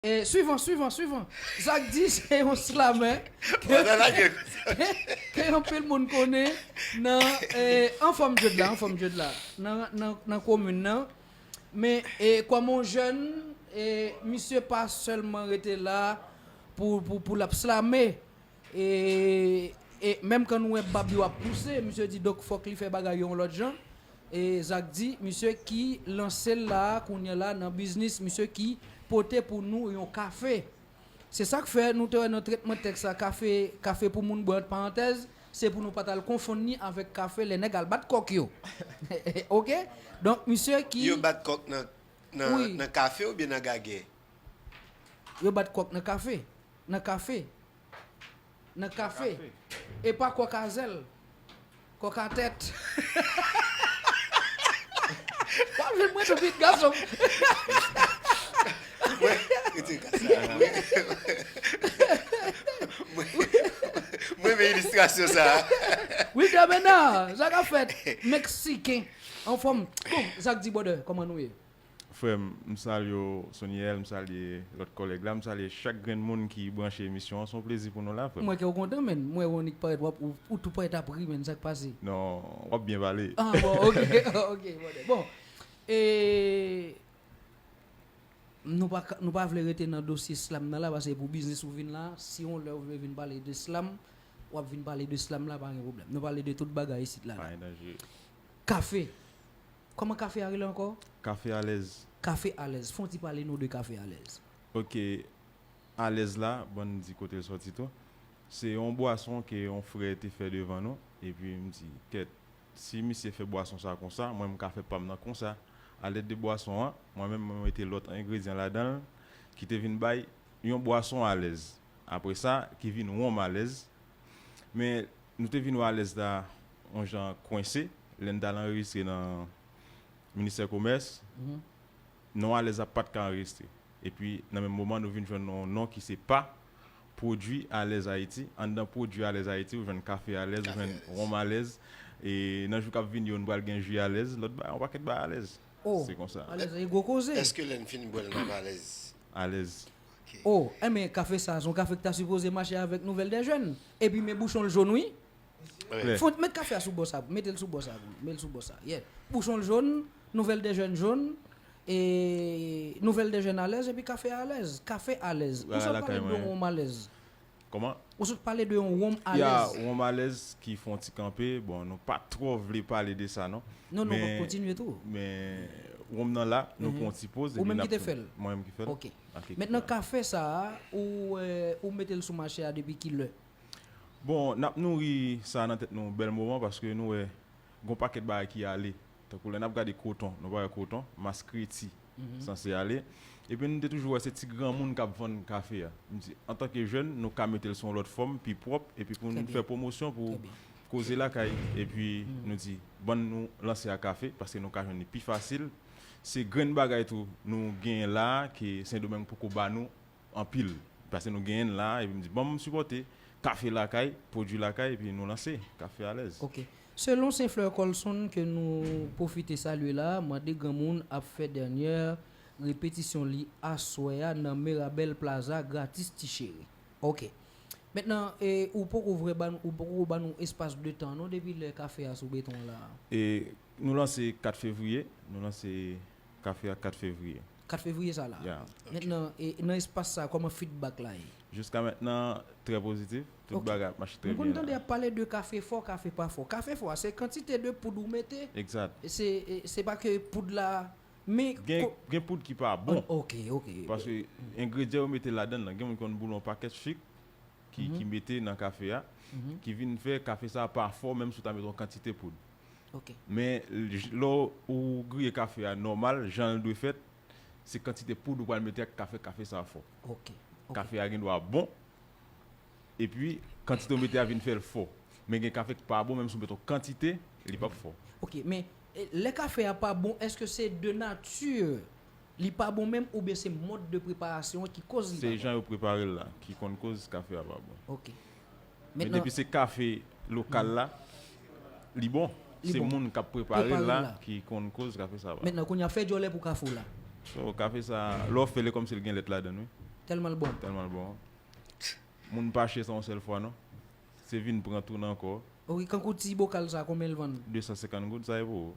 Swivan swivan swivan Zak di se yon slamè ke anpil moun konnen nan anfòm je dla anfòm je dla nan komin nan men kòm yon jèn misye pa sèlman rete la pou lap slame. E e menm kan nou wè bab yo ap pouse misye di dok fok li fè bagay yo yon lot jan e zak di misye ki lansel la kounyè la nan biznis misye ki pote pou nou yon kafe se sak fè nou te wè nan tretman teks la kafe kafe pou moun bwè ant parantèz se pou nou pat al konfonn ni avek kafe lè nèg al bat kok yo ok donk misye ki. Yo bat kok nan nan kafe oubyen nan gagè? Yo bat kòk nan kafe, nan kafe, nan kafe. E pa kòk a zèl, kòk a tèt. Pa jwe mwen tou vit gason m. Mwen rete ka sa a wi. Mwen renmen ilistrasyon sa a. Wilder Bernard, sa ka fèt. Meksiken anfòm. Bon, Zack D. Brother, kòman nou ye? Frèm, m salye w Soniel, m salye lòt kòlèg la, m salye chak grenn moun ki branche emisyon an, s on plezi pou nou la frèm. M wè kè w kontan menn, m wè Rony k parèt wap ou tou parèt ap ri menn sak pase. Non, wap byen pale. Ah bon ok ok brother bon e nou pa nou pa vle rete nan dosye slam nan la pase pou biznis ou vin la si yon lè ou vle vin pale de slam wap vin pale de slam la pa gen pwoblèm nou pale de tout bagay isit la. Pa gen danje. Kafe. Kòman kafe a rele ankò? Kafe alèz. Kafe alèz. Fon ti pale nou de kafe alèz. Ok. Alèz la, bon n di kote l sòti tou. Se yon bwason ke yon frè te fè devan nou. E pi m di, kèt, si misye fè bwason sa konsa, mwen m ka fè pa m nan konsa. A lèd de bwason an, mwen menm mwen mete lòt engredyan ladan l ki te vin bay yon bwason alèz. Apre sa, ki vin wonm alèz. Men, nou te vin wè alèz la yon jan kwense, lè n t al anrejistre nan ministè komès, non alèz la pa t ka anrejistre. Epi, nan menm moman, nou vin jwenn yon non ki se pa, Pwodui Alèz Ayiti. Anndan Pwodui Alèz Ayiti, ou jwenn kafe alèz, ou jwenn wonm alèz. E nan jou k ap vini yo, nou pral gen ji alèz, lòt bagay, yon pakèt bagay alèz. Se konsa. Alèz la, se gwo koze! Èske lè n fin bwè l, n ap alèz? Alèz. Oh enben kafe sa son kafe ki ta sipoze mache avek nouvel de jèn epi men bouchon l jaune wi Font met kafe a sou bò sa metel sou bò sa pou nou mel sou bò sa yeah bouchon l jaune nouvel de jèn jaune e nouvel de jèn alèz epi kafe a alèz kafe alèz ou sot pale m do wonm alèz Kòman? Ou sot pale de yon wonm alèz. Ya, wonm alèz ki fè yon ti kanpe. Bon, nou pa twò vle pale de sa non. Non, nou pap kontinye tou. Men, wonm nan la, nou pran yon ti poz epi n ap. Ou menm ki te fè l? Mwen menm ki fè l. Ok. Mentnan kafe sa a, ou mete l sou mache a depi ki lè? Bon, n ap nouri sa nan tèt nou yon bèl moman paske nou wè gen yon pakèt bagay ki ale. Tankou lè n ap gade koton, nou pa wè koton, maskreti. sanse ale. Epi nou te toujou wè se ti granmoun k ap vann kafe a. M di, antanke jèn, nou ka mete l sou yon lòt fòm, pi pwòp, epi pou n fè pwomosyon pou koze lakay. Epi nou di, ban nou lanse a kafe, paske nou ka jwenn li pi fasil. Se grenn bagay tou nou genyen la a ke Sendomeng poko ba nou Anpil pase nou genyen la epi m di bon m sipòte kafe lakay pwodwi lakay epi nou lanse kafe alèz. Ok. Selon St-Fleur Colson ke nou pwofite salye la, mande granmoun ap fè dènyè repetisyon li aswè a nan Mirabel Plaza gratis ti cheri. Ok. Mentnan e ou poko vrè ba ou poko ba nou espas de tan non depi lè kafe a sou beton la? E nou lanse 4 fevriye, nou lanse kafe a 4 fevriye. 4 fevriye sa la. Mentnan nan espas sa koman feedback la ye? Jiska mentnan trè pozitif, tout bagay ap mache trè byen la. Ok. M konn tande y ap pale de kafe fò, kafe pa fò. Kafe fò a se kantite de poud ou mete? Exact. Se pa ke poud la men. Gen poud ki pa bon. Ok, ok. Paske engredyan yo mete ladan nan gen moun ki konn boule yon pakèt sik ki mete nan kafe a ki vin fè kafe sa pa fò menm si w ta mete yon kantite poud. ok. Men lè ou griye kafe a nòmal jan l dwe fèt, se kantite poud ou pral mete ak kafe kafe sa fò. Ok. Kafe a gen dwa bon epi kantite ou mete a vin fè l fò. Men gen kafe k pa bon menm si ou met yon kantite li pap fò. Ok men lè kafe a pa bon èske se de nati li pa bon menm oubyen se mòd de preparasyon an ki koz li pa bon? Se jan yo prepare l la ki konn koz kafe a pa bon. Ok. Men depi se kafe lokal la, li bon. Se moun kap preparel la ki konn koz kafe sa pa. Mentnan kounya fè djòlè pou kafe w la. So kafe sa lè w fè l e kòmsi l gen lèt ladan l wi. Tèlman l bon. Tèlman l bon. Moun pa achte sa yon sèl fwa non. Se vin pran tounen ankò. Ok kankou ti bokal sa konbyen l vann? 250 goud sa e pou ou.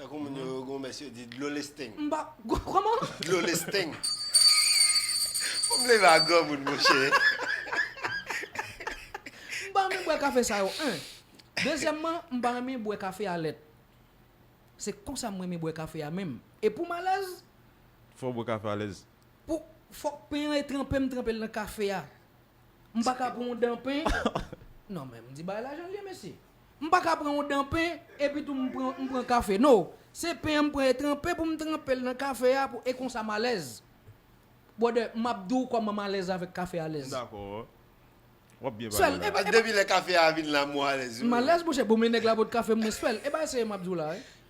Tankou moun yo yo gomès yo di dlo lesteng. M pa kòman? Dlo lesteng. Fò m leve a granmoun monchè. M pa renmen bwè kafe sa yo 1. Dezyèmman, m pa renmen bwè kafe a lèt. Se konsa m renmen bwè kafe a menm. E pou m alèz. Fò w bwè kafe alèz. Pou, fòk pen an e tranpe m tranpe l nan kafe a. M pa ka pran yon dan pen, non men m di bagay la jan l ye mesye. M pa ka pran yon dan pen epi tou m pran m pran kafe no, se pen an m pran e tranpe pou m tranpe l nan kafe a pou e konsa m alèz. Brother, m ap di w kòman m alèz avèk kafe alèz. M dakò. W ap byen pale la. Depi lè kafe a vin la m alèz wi. M alèz monchè, bon men nèg la pot kafe m mwen swè l. E ba eseye m ap di w la wi.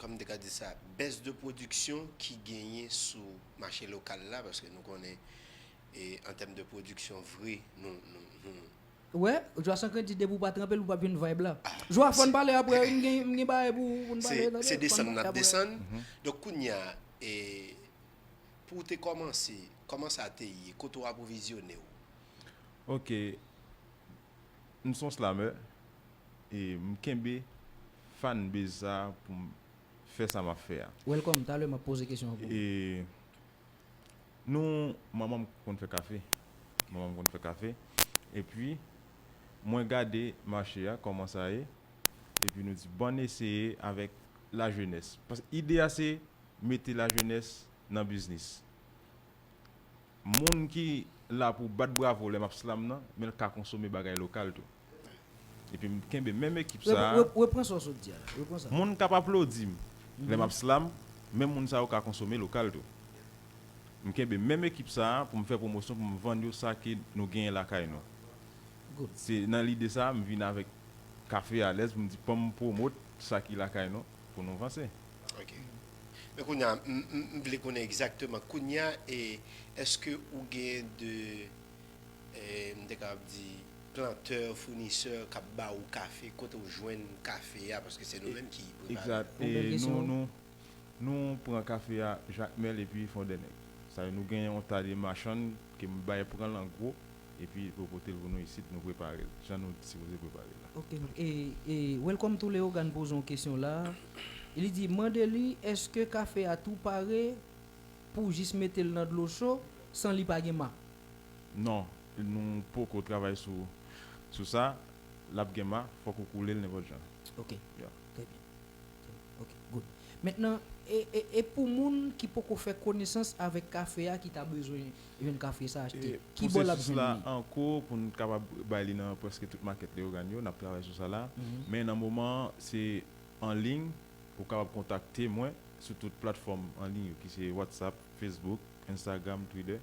kòm m te ka di sa, bès de pwodiksyon ki genyen sou mache lokal la, paske nou konnen an tèm de pwodiksyon vre nou. Ou wè, Jwa san kredi depi ou pa tranpe l ou pap jwenn vibe la. Jwa fò n pale aprè wi m gen bagay pou n pale tande. Se desann n ap desann. Donk kounye a, pou w te kòmanse, kòman sa te ye? Kote w apwovizyone w? Ok, M son slameur e m kenbe fan base sa pou m fè sa map fè a. Welcome, talè map poze kesyon an pou ou. E nou manman m konn fè kafe, manman m konn fè kafe epi mwen gade mache a kòman sa ye epi nou di bann eseye avèk la jenès paske ide a se mete la jenès nan biznis. Moun ki la pou bat bravo lè map slam nan, menl ka konsome bagay lokal tou. Epi m kenbe menm ekip sa a. Repran sa w sot di a la, repran sa. Moun kap aplodi m lè map slam, menm moun sa yo ka konsome lokal tou. M kenbe menm ekip sa a pou m fè pwomosyon pou m vann yo sa ke nou genyen lakay nou. Se nan lide sa a m vin avèk Kafe Alèz pou m di fò m pwomot sa ki lakay nou pou nou vanse. Ok. Men kounye a, m vle konnen egzakteman kounye a, èske ou gen de, m te kapab di, plantè, founisè k ap ba ou kafe, kote ou jwenn kafe a, paske se nou menm ki prepare l? Yon bèl kesyon wi. Nou pran kafe a Jakmèl epi Fondènèg. Sa vle di nou gen yon ta de machann ke m bay pran l an gwo. Epi pou yo pote l pou nou isit nou prepare l jan nou sipoze prepare l la. Ok m e welcome to Leogane poze yon kesyon la li di mande li eske kafe a tou pare pou jis mete l nan dlo cho san li pa gen ma? Non nou poko travay sou sou sa lap gen ma fok ou koule l nenpot jan. Ok trè byen. Ok good men nan e pou moun ki poko fè konesans avèk kafe a ki ta bezwen jwenn kafe sa achte ki bò lap jwenn li. An ko pou n kapab bay li nan prèske tout makèt Leyogàn yo nap travay sou sa la men nan moman an se an liy ou kapab kontakte mwen sou tout platfòm an liy yo ki se watsap fesbouk enstagram twidè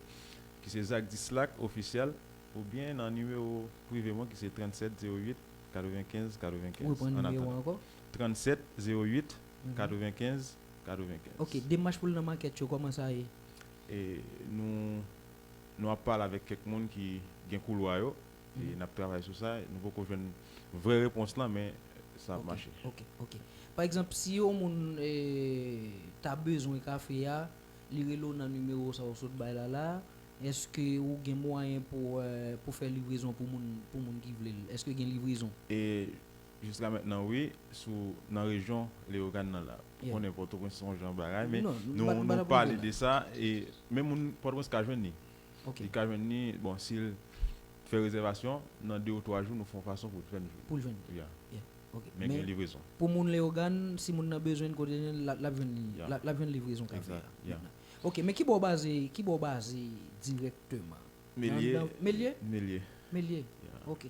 ki se zakdislak ofisyal ou byen nan nimewo prive mwen ki se 37 08 95 95 an atandan 37 08 95 95. Ok, demach pou l nan makèt yo, kòman sa ye? E nou nou ap pale avèk kèk moun ki gen koulwa yo e n ap travay sou sa. Nou poko jwenn vrè repons lan men sa ap mache. Ok, ok, ok. Pa egzanp, si yon moun ta bezwen kafe a, li rele w nan nimewo sa ou sot bay la la, èske ou gen mwayen pou fè livrezon pou moun ki vle l? Èske gen livrezon? E Jiska mentnan wi sou nan rejyon Leogane nan la pou konnen Pòtoprens son jan bagay men nou pale de sa e men moun Pòtoprens ka jwenn ni li ka jwenn ni bon sil fè rezèvasyon nan 2 ou 3 jou nou fon fason poul t fèn jwenn poul jwenn ya men gen livrezon pou moun Leogane si moun nan bezwenn kote li jwenn lap jwenn li lap jwenn livrezon kap fè ya ok men kibò w baze kibò w baze dirèkteman melye melye melye ok.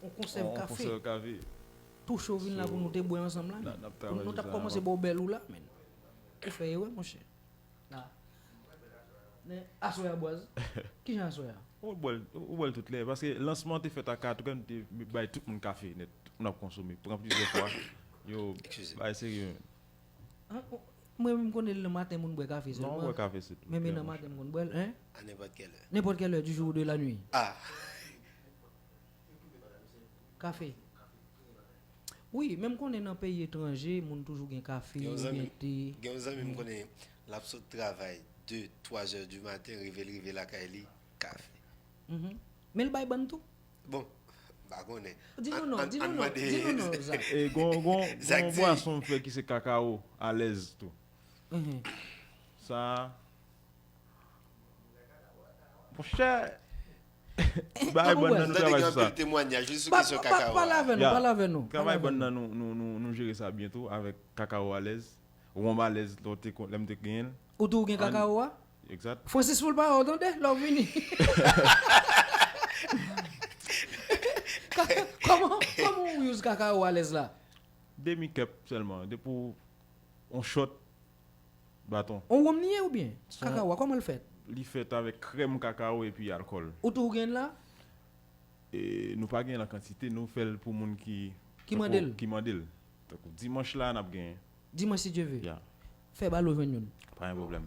On konsèv kafe tou cho vin la pou nou te bwè ansanm la menn. Pou nou tap kòmanse ba w bèl ou la menn. Ou fè erè monchè. La. Men aswè a bwaz. Kijan aswè a? Ou bwè l, ou bwè l tout lè. Paske lansman an te fèt a 4 rè, nou te bay tout moun kafe nèt. Tout moun ap konsome. Pran plizyè fwa. Yo, bagay serye menn. An, mwen menm m konnen nan maten moun bwè kafe sèlman. Non, ou bwè kafe se tou. Men men nan maten m konn bwè l, hein? A nenpòt kèlè. Nenpòt kèlè du jour ou de la nuit. Ah! Kafe Wi men m konnen nan peyi etranje moun toujou gen kafe ou byen te Gen yon zanmi m konnen l ap sot travay 2, 3 zè di maten rive l rive lakay li kafe Men l bay bann tou? Bon m pa konnen Di nou non, di nou non, di nou non Zak E gon gon yon bwason m fè ki se kakawo alèz tou Sa. Monchè Bagay bon nan nou travay sou sa Pale avè nou pale avè nou Travay bon nan nou jere sa byen tou avèk kakawo alèz Wonm alèz lè m te genyen l Ou tou ou gen kakawo a? Exact Francis foul pa wè w tande lè w vini Kòman Kòman ou use kakawo alèz la? Demi cup sèlman depi w on shot baton. On wonm li ye oubyen? Kakawo a kòman l fèt? Li fèt avèk krèm kakawo epi alkòl. Ou tou ou gen l la? Nou pa gen l an kantite, nou fè l pou moun ki mande l. Tankou dimanch la n ap gen. Dimanch si Dye ve. Fè balo jwenn youn. Pa gen pwoblèm.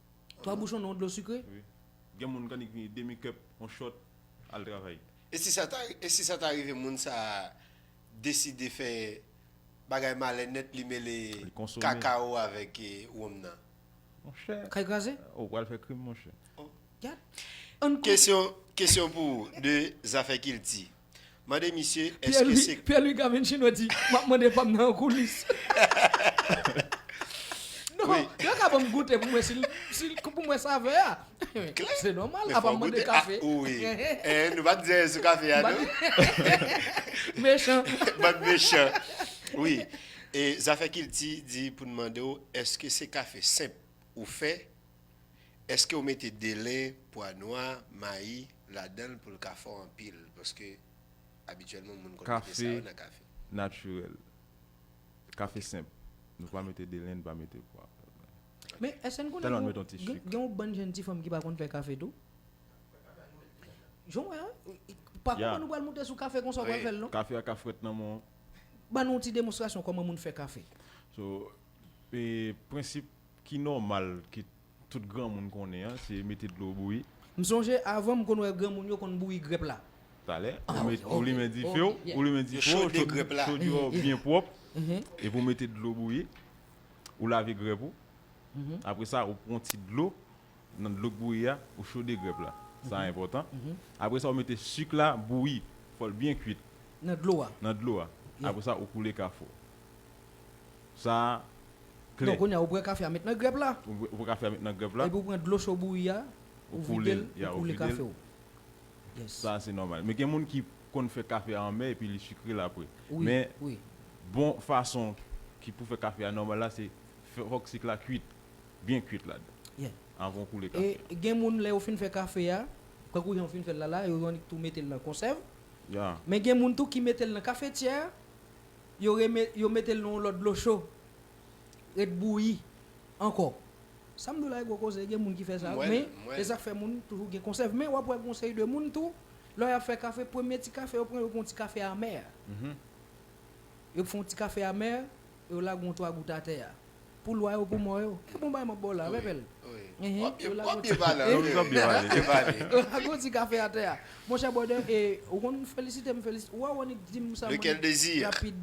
3 bouchon nan yon dlo sikre. Wi. Gen moun kannik vini demi cup on shot al travay. E si sa ta e si sa ta rive moun sa a deside fè bagay malè nèt li mele Li konsome. kakao avèk wonm nan? Monchè! Kay kraze? Ou pral fè krim monchè. Gad! Ann kon. Kesyon kesyon pou ou de zafè kilti. Mande misye eske se. Pierre Louis Gavencino di map mande pam nan an koulis. Non, yo ka banm goute pou mwen sil pou mwen savè a. Klè. Se nòmal, apa m mande kafe. Ou wi. Nou pa di anyen sou kafe a non. Mechan. Bann mechan. Wi. Zafè kilti di pou n mande w eske se kafe senp ou fè? Eskew mete dele, pwa nwa, mayi ladanl poul ka fò anpil paske abityèlman moun konn mete sa yo nan kafe. Kafe natirèl, kafe senp nou pa mete dele nou pa mete pwa. Men eske n konnen gen yon bann jenn ti fanm ki pa konn fè kafe tou? Jan w wè an, pa kouman nou pral moute sou kafe konsa w pral fèl non. Kafe a ka frèt nan men w. Ban nou yon ti demonstrasyon kòman moun fè kafe. So, prensip. Ki nòmal ke tout granmoun konnen an se mete dlo bouyi. M sonje avan m konn wè granmoun yo konn bouyi grèp la. Talè, ou limen dife w, ou limen dife w, chodye w byen pwòp, epi ou mete dlo bouyi, ou lave grèp ou, apre sa ou pran ti dlo nan dlo k bouyi a, ou chode grèp la, sa enpòtan, apre sa ou mete sik la bouyi, fò l byen kwit nan dlo a, apre sa ou koule kafou. Sa. klè. Kounye a ou bwè kafe a met nan grèp la. Ou bwè kafe a met nan grèp la. Epi ou pran dlo cho bouyi a, ou vide l, ou koule kafe ou. Sa a se nòmal. Men gen moun ki konn fè kafe a anmè epi li sikre l apre. Men bon fason ki pou fè kafe a nòmal la se fòk sik la kuit, byen kuit la dan. Avan ou koule kafe a. E gen moun lè yo fin fè kafe a, tankou jan ou fin fè l la la, yo annik tou mete l nan konsèv. Men gen moun tou ki mete l nan kafetyè a. yo reme yo metel nan yon lòt dlo cho ret bouyi ankò sam diw la e gwo koze gen moun ki fè sa men esak fè moun toujou gen konsèv men wap wè gon seri de moun tou lè yap fè kafe premye ti kafe yo pran yo pran yon ti kafe amè yo fon ti kafe amè yo lage yon 3 gout atè a. Pou lwa yo pou mò yo. E bon bagay m ap ba w la, vè bèl. Wap byen pale anpil. Wap byen pale. Yo lago ti kafe atè a. Monchè brother, e ou konn felisite m felisite. Ou wè ou annik di m sa mwen rapid.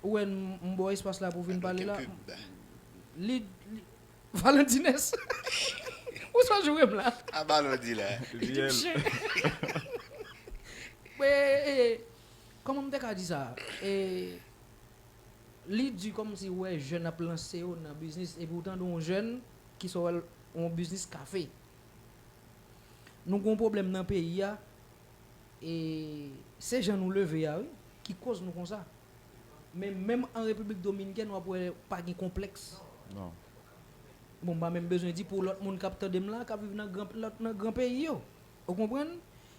Ou wè m ba w espas la pou vin pale la. Li, li. Valentines. Ou swa joure m la. A ba l ou di la. Mwen, e, e, e. Kòman m te ka di sa? E, Li du komsi ou wè jèn ap lanse yo nan biznis epi ou tande yon jèn ki sot wèl yon biznis kafe. Nou gon pwoblèm nan peyi a e se jan nou leve a wi ki koz nou konsa. Men menm an Repiblik Dominikèn wap wè pa gen konplèks. Bon m pa menm bezwen di pou lòt moun kap tandem la kap viv nan gran peyi yo. Ou konprann?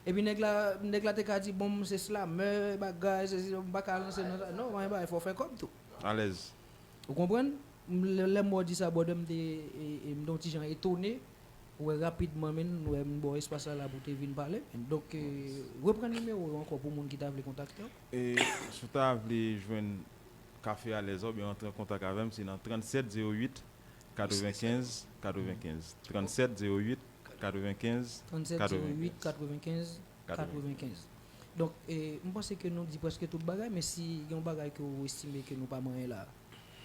Epi nèg la, nèg la te ka di bon m se slamè, bagay, sesi, m pa ka lanse nan sa. Non, anyen bagay, fò w fè kòb tou. Alèz. Ou konprann? Lè m wè w di sa brother m te, m te yon ti jan etone pou wè rapidman menn, m wè m ba w espas la la pou w te vin pale menn. Donk, reprann nimewo w yo ankò pou moun ki ta vle kontakte w. E si w ta vle jwenn Café Alèz la oubyen rantre an kontak avè m se nan 37 08 95 95 37 08 95 37 08 95 95 Donk e m panse ke nou di prèske tout bagay men si gen yon bagay ke ou estime ke nou pa manyen la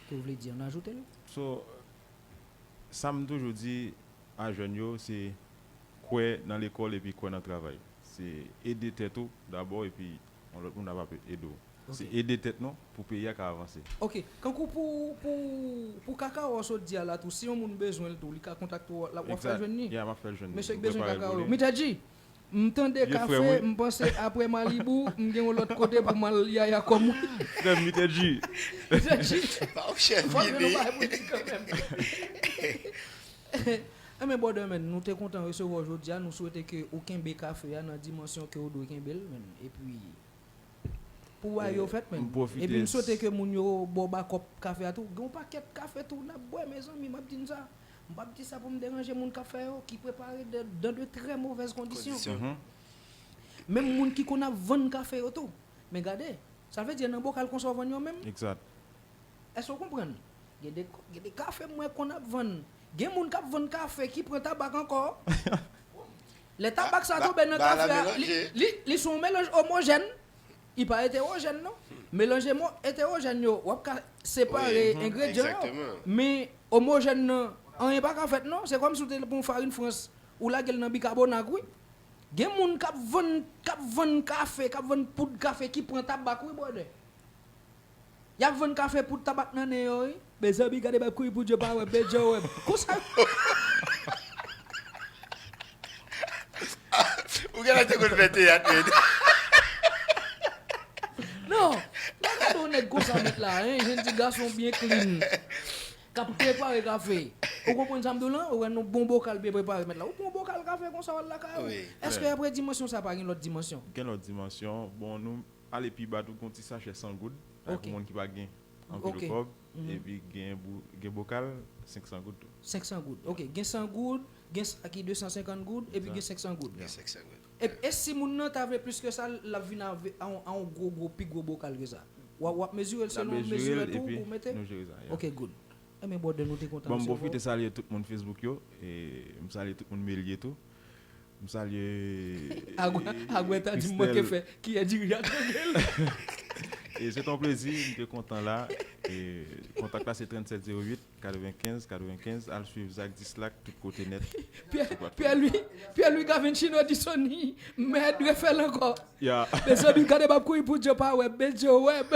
ke ou vle di an ajoute l. So sa m toujou di a jèn yo se kwè nan lekòl epi kwè nan travay se ede tèt ou dabò epi Yon lòt moun ap ape ede w. Se ede tèt nou pou peyi a ka avanse. Ok. Kankou pou pou pou kakawo a w sot di a la tou si yon moun bezwen l tou li ka kontakte w l ap wap fè jwenn ni? Yeah m ap fè jwenn li. Mesye ki bezwen kakawo yo. Mittadji! M tande kafe m panse aprè Malibu m gen yon lòt kote pou m al yaya kò m wi. Frè m Mittadji! Mittadji! Fòk gen yon bagay pou di kanmenm. Amen brother man nou te kontan resevwa w jodi a nou swete ke ou kenbe kafe a nan dimansyon ke ou dwe kenbe l man epi pou bagay yo fèt man epi m swete ke moun yo ba w bakòp kafe a tou gen yon pakèt kafe tou nap bwè mezanmi map di n sa m pap di sa pou m deranje moun kap fè yo ki prepare dan de trè movèz kondisyon menm moun ki konn ap vann kafe yo tou men gade sa vle di nan bokal konsa w vann yo menm Èske ou konprann? Gen de, gen de kafe m wè konn ap vann. Gen moun k ap vann kafe ki pran tabak ankò. Lè tabak sa tonbe nan kafe a, li, li, li son w melanj omojèn. Li pa etewojèn non. Melanje mo, etewojèn yo, w ap ka separe engredyan yo. Men, omojèn nan, anyen pa ka fèt non. Se kòm si w te pran yon farin frans, ou lage l nan bikabonag wi. Gen moun k ap vann, k ap vann kafe, k ap vann poud kafe ki pran tabak wi brother. Yap vann kafe pou tabak nan nen yo wi. Mezanmi gade bay kouri pou Dye pa wèm men Dye wèm konsa yo Ou genlè te konn fè teyat menn. Non, pa gade yon nèg konsa mèt la, yon jenn ti gason byen klin kap prepare kafe. Ou konprann sa m di w lan? Ou wè yon bon bokal byen prepare mèt la. Ou pran yon bokal kafe konsa w al lakay ou. Èske aprè dimansyon sa pa gen lòt dimansyon? Gen lòt dimansyon, bon nou Ale pi ba tou gen yon ti sachè 100 goud sa pou moun ki pa gen anpil kòb epi gen bokal 500 goud tou. 500 goud ok gen 100 goud gen sa ki 250 goud epi gen 500 goud. Gen 500 goud. Epi e si moun nan ta vle plis ke sa lap vin ave a yon gwo gwo pi gwo bokal ke sa wap mezire l selon mezire tou pou mete? Nap mezire l epi nou jere sa ya. Ok good. Enben brother nou te kontan. Bon m pwofite salye tout moun Facebook yo e m salye tout moun Melier tou. M salye Christelle Se ton plezi m te kontan la Kontak la se 3708 95 95 Al swiv Zak Dislak tout kote nèt Pierre Louis Gavencino di Sony mèd refèl ankò Mezanmi gade bab kouri pou Djo pa wè m men Djo wè m.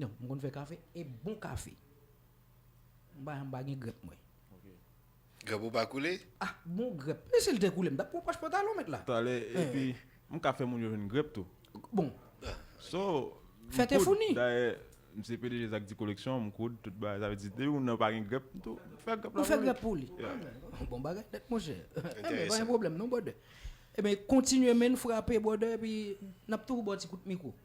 Non, m konn fè kafe, e bon kafe. M pa m pa gen grèp mwen. Grèp ou pa koule? Ah bon grèp, men si l te koule m t ap pran pòch pantalon mèt la. Talè, epi m ka fè moun yo jwenn grèp tou. Bon. So, m koud, dayè m se pdg Zak Di Koleksyon, m koud tout bagay, sa vle di depi moun nan pa gen grèp, m tou fè grèp la pou li. Ou fè grèp pou li. Bon bagay nèt monchè. Enteresan. Pa gen pwoblèm non brother. Enben kontinye men, frape brother, epi n ap toujou ba w ti kout mikwo.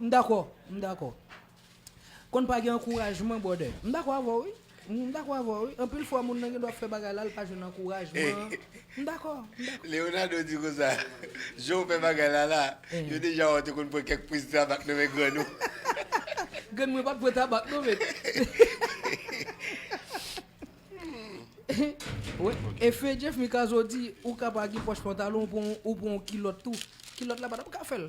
M dakò, m dakò. Konn pa gen ankourajman brother. M dakò avè w wi. M dakò avè w wi. Anpil fwa moun nan gen dwa ap fè bagay la, li pa jwenn ankourajman. M dakò, m dakò. Leonardo di konsa, Jan w fè bagay la la, yo deja wè w te konn pran kèk priz tabak nan men grann ou. Grann mwen pa t pran tabak non men. E fè Jeff Mikazo di, ou ka pa gen pòch pantalon, ou pran yon kilòt tou. Kilòt la pa t ap ka fè l.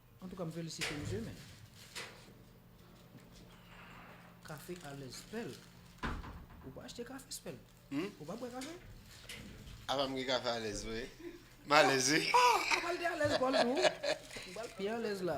Antouka m felisite misye men kafe alèz spell ou pa achte kafe spell ou pa bwè kafe? Apa m gen kafe alèz vre? M alèz wi. Apa l te alèz kò l tou? Ou pral pi alèz la.